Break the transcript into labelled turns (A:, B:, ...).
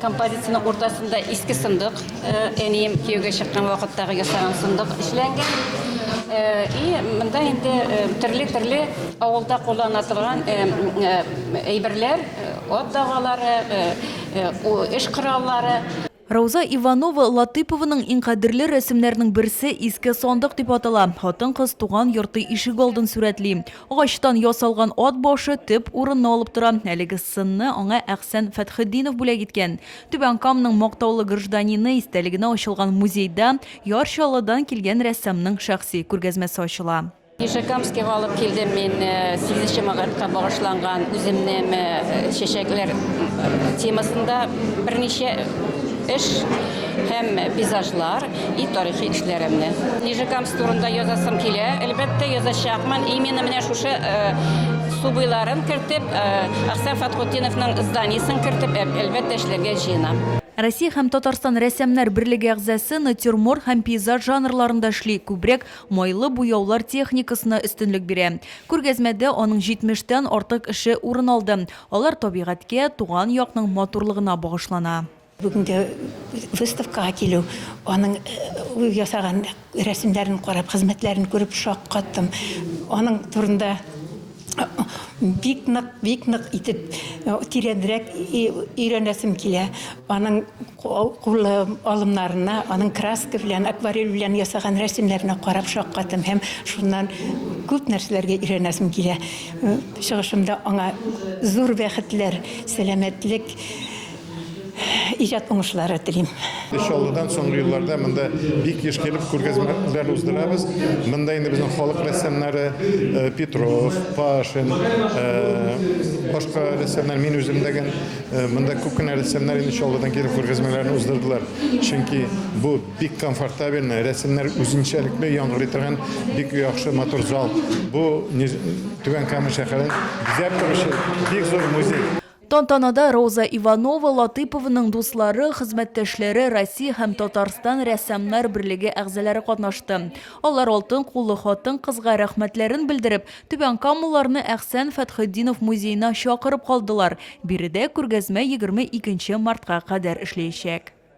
A: Композицияның уртасында иске сындык, әнием кияүгә чыккан вакыттагы ясаган сындык эшләнгән. И монда инде төрле-төрле авылда куллана торган әйберләр, ат дагалары, эш кораллары. Рауза
B: Иванова Латыйпованың иң кадерле рәсемнәренең берсе иске сандык дип атала. Хатын-кыз туган йорты ишегалдын сурәтли. Агачтан ясалган ат башы төп урынны алып тора. Әлеге сынны аңа Әхсән Фәтхетдинов бүләк иткән. Түбән Камның мактаулы гражданины истәлегенә ачылган музейда Яр Чаллыдан килгән рәссамның шәхси күргәзмәсе ачыла. Нижекамскига
A: алып килдем мин сигезенче мартка багышланган үземне ме чәчәкләр темасында берничә эш һәм пейзажлар. И тарихи эшләремне. Нижекамск турында язасым килә. Әлбәттә, язачакмын. Именно менә шушы су буйларын кертеп, Әхсән Фатхутдиновның зданиесен кертеп, әлбәттә, эшләргә җыенам. Россия һәм
B: Татарстан рәссамнар берлеге әгъзасы натюрморт һәм пейзаж жанрларында эшли, күбрәк майлы буяулар техникасына өстенлек бирә. Күргәзмәдә аның 70 тән артык эше урын алды. Алар табигатькә, туган якның матурлыгына багышлана. Бүгенге
C: выставкага килү, аның ясаган рәсемнәрен карап, хезмәтләрен күреп шаккаттым. Аның турында бик нык, бик нык итеп тирәнрәк өйрәнәсем килә. Аның кулы алымнарына, аның краска белән, акварель белән ясаган рәсемнәренә карап шаккаттым һәм шуннан күп нәрсәләргә өйрәнәсем килә. Чыгышымда аңа зур бәхетләр, сәламәтлек. иҗат уңышлары телим. Чаллыдан соңгы
D: елларда монда бик еш килеп күргәзмәләр уздырабыз. Монда инде безнең халык рәссамнары э, Петров, Пашин, э, башка рәссамнар, мин үзем дәген э, монда күп кенә рәссамнар инде Чаллыдан килеп күргәзмәләрен уздырдылар. Чөнки бу бик комфортабельный, рәссамнар үзенчәлекле яңгырый торган бик яхшы матур зал. Бу Түбән Кама шәһәрен бизәп торучы бик зур музей. Тантанада
B: Роза Иванова Латыпованың дуслары, хезмәттәшләре, Россия һәм Татарстан рәссамнар берлеге әгъзалары катнашты. Алар алтын куллы хатын-кызга рәхмәтләрен белдереп, түбәнкамалыларны Әхсән Фәтхетдинов музеена чакырып калдылар, биредә күргәзмә егерме икенче мартка кадәр эшләячәк.